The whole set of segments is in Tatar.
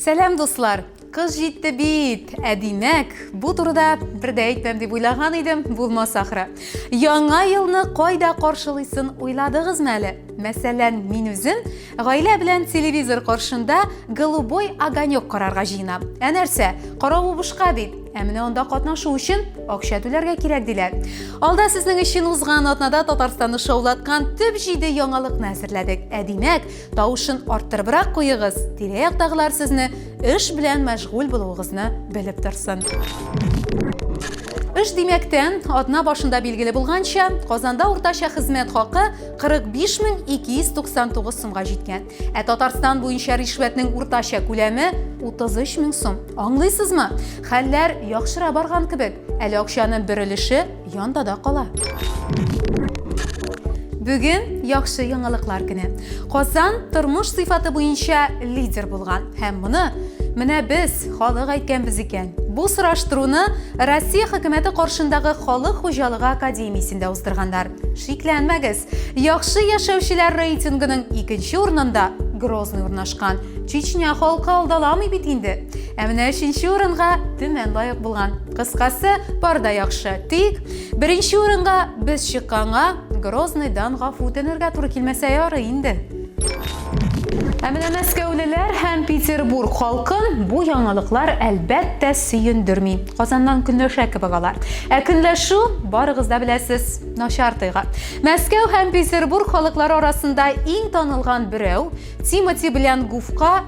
Сәләм, дуслар! Кыз җитте бит, ә димәк, бу турыда бер дә әйтмәм дип уйлаган идем, булмас ахры. Яңа елны кайда каршылыйсын уйладыгызмы әле? Мәсәлән, мин үзем Гаилә белән телевизор каршында голубой огонек карарга җыенам. Ә нәрсә? Каравы бушка бит. Ә менә анда катнашу өчен акча түләргә кирәк диләр. Алда сезнең өчен узган атнада Татарстанны шаулаткан төп 7 яңалыкны әзерләдек. Ә димәк, тавышын арттырыбрак куегыз. Тирә-яктагылар сезне эш белән мәшгуль булуыгызны белеп торсын. Эш димәктән, атна башында билгеле булганча, Казанда уртача хезмәт хакы 45 мең 299 сумга җиткән. Ә Татарстан буенча ришвәтнең уртача күләме 33 мең сум. Аңлыйсызмы? Хәлләр яхшыра барган кебек. Әле акчаны бер өлеше янда да кала. Бүген яхшы яңалыклар көне. Казан тормыш сыйфаты буенча лидер булган һәм моны Менә без халык әйткәнбез икән. Бу сораштыруны Россия хөкүмәте каршындагы халык хуҗалыгы академиясендә уздырганнар. Шикләнмәгез, яхшы яшәүчеләр рейтингының икенче урынында Грозный урнашкан. Чечня халкы алдаламый бит инде. Ә менә өченче урынга Төмән лаек булган. Кыскасы, парда яхшы. Тик беренче урынга без чыкканга Грозныйдан гафу үтенергә туры килмәсә ярый инде. Ә менә мәскәүлеләр һәм Петербург халкын бу яңалыклар әлбәттә сөендерми. Казаннан көнләшә кебек алар. Ә көнләшү, барыгыз да беләсез, начар тойгы. Мәскәү һәм Петербург халыклары арасында иң танылган берәү Тимоти белән Гуфка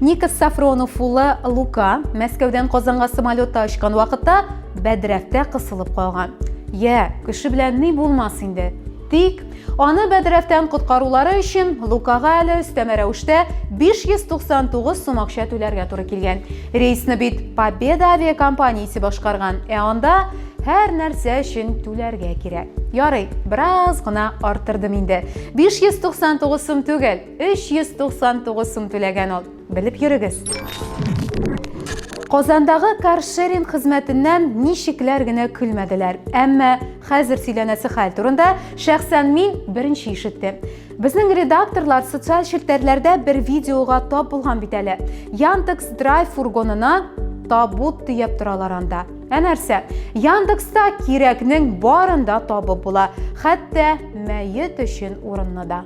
Никос Сафронов улы Лука Мәскәүдән Казанга самолетта очкан вакытта бәдрәфтә кысылып калган. Я, кеше белән ни булмас инде. Тик аны бәдрәфтән коткарулары өчен Лукага әле өстәмә рәвештә 599 сум акча түләргә туры килгән. Рейсны бит Победа авиакомпаниясе башкарган, ә анда һәр нәрсә өчен түләргә кирәк. Ярый, бераз гына артырдым инде. 599 сум түгел, 399 сум түләгән ул. Белеп йөрегез. Казандагы каршеринг хезмәтеннән ничекләр генә көлмәделәр. Әмма хәзер сөйләнәсе хәл турында шәхсән мин беренче ишеттем. Безнең редакторлар социаль челтәрләрдә бер видеога тап булган бит әле. Яндекс Драйв фургонына табут төяп торалар анда. Ә нәрсә? Яндекста кирәкнең барында табып була, хәтта мәет өчен урынны да.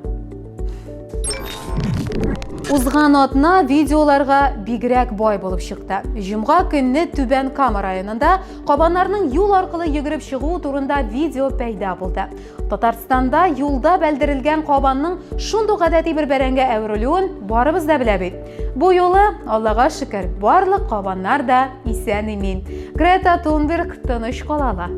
Узган атна видеоларга бигрәк бай булып чыкты. Җомга көнне Түбән Кама районында кабаннарның юл аркылы йөгереп чыгу турында видео пәйда булды. Татарстанда юлда бәлдерелгән кабанның шундук гадәти бер бәрәнгә әверелүен барыбыз да белә бит. Бу юлы, Аллага шөкер, барлык кабаннар да исән-имин. Грета Тунберг тыныч кала ала.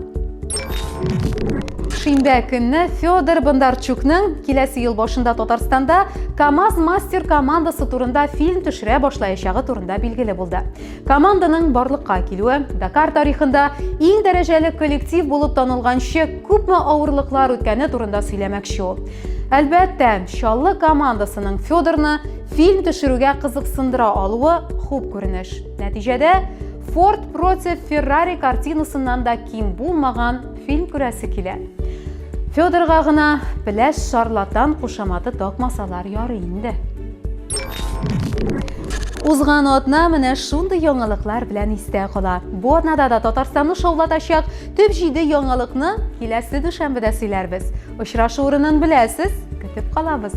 Шимбә көнне Федор Бондарчукның киләсе ел башында Татарстанда КАМАЗ мастер командасы турында фильм төшерә башлаячагы турында билгеле булды. Команданың барлыкка килүе Дакар тарихында иң дәрәҗәле коллектив булып танылганчы күпме авырлыклар үткәне турында сөйләмәкче ул. Әлбәттә, Чаллы командасының Федорны Фильм төшерүгә кызыксындыра алуы хуп күренеш. Нәтиҗәдә Ford против Ferrari картинасыннан да ким булмаган фильм күрәсе килә. Федорга гына пеләш шарлатан кушаматы такмасалар ярый инде. Узган атна менә шундый яңалыклар белән истә кала. Бу атнада да Татарстанны шаулатачак төп җиде яңалыкны киләсе дүшәмбедә сөйләрбез. Очрашу урынын беләсез, көтеп калабыз.